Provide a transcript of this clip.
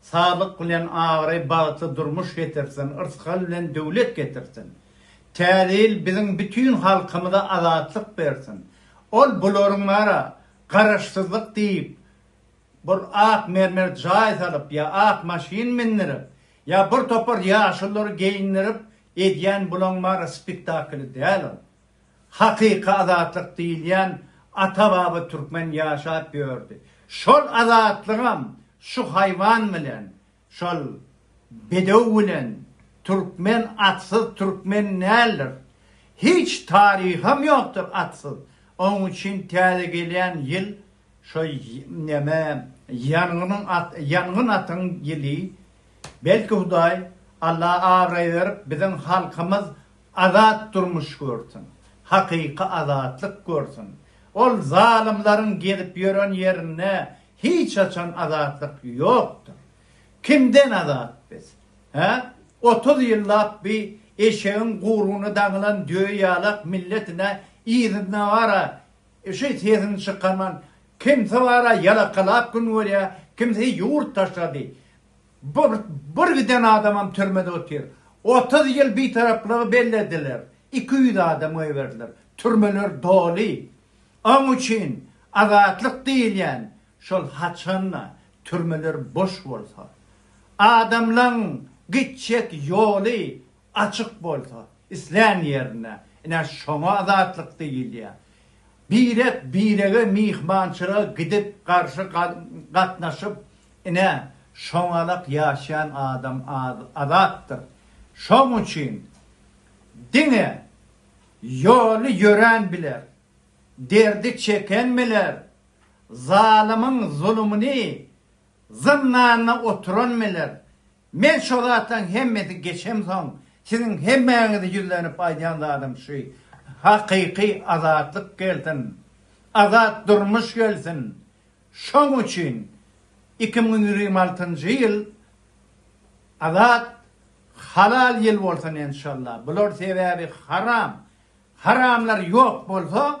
Saglyk bilen abraý bagty durmuş getirsin yrsgal bilen döwlet getirsin Täze ýyl biziň bütin halkymyza azatlyk bersin ol bularyň bara garaşsyzlyk diýip bir ak mermer jaý salyp ýa ak maşyn mindirip ýa bir topar ýaşullary geýindirip edýän bulaň bara spektakly däl ol. Hakyky azatlyk diýilýän ata-baba türkmen ýaşap ýördi. Şol azatlygam şu haýwan bilen, şol bedew bilen türkmen atsyz türkmen däldir. Hiç taryham ýokdur atsyz. Onuň üçin täze gelýän ýyl şo neme ýangynyň ýangyn atyň ýyly. Belki Hudaý Alla abraý berip biziň halkymyz Azat durmuş görsün. Hakyky azatlyk görsün. Ol zalymlaryň gezip ýören ýerinde hiç haçan azatlyk ýokdur. Kimden azat biz? Hä? Otuz ýyllap bi eşegiň guyrugyna daňylan düýe ýalak milletine yzyna bara şi sesini çykarman kimsi bara ýalakalap gün görýär, kimsi ýurt taşlady. Bir giden adamam türmede otyr. Otuz ýyl bitaraplygy bellediler. Iki ýüz adam goýberdiler. Türmeler doly. Oň üçin azatlyk diýilýän şol haçanda türmeler boş bolsa. Adamlaň gitjek ýoly Açyk bolsa, islän ýerinde. Ine, şoňa azatlyk diýilýär. Birek birege myhmançylyga gidip, garşy gatnaşyp, ine, şoňalak ýaşaýan adam azatdyr. Şoň üçin diňe ýoly ýörän biler, derdi çeken biler, zalymyň zulumyny, zyndanda oturan biler, Men şo zatlaň hemmesi geçemsoň siziň hemmäňize ýüzlenip aýdýan zadym şu, hakyky azatlyk gelsin, azat durmuş gelsin. Şoň üçin iki müň ýigrimi altynjy ýyl azat, halal ýyl bolsun enşalla. Bular sebäbi haram. Haramlar ýok bolsa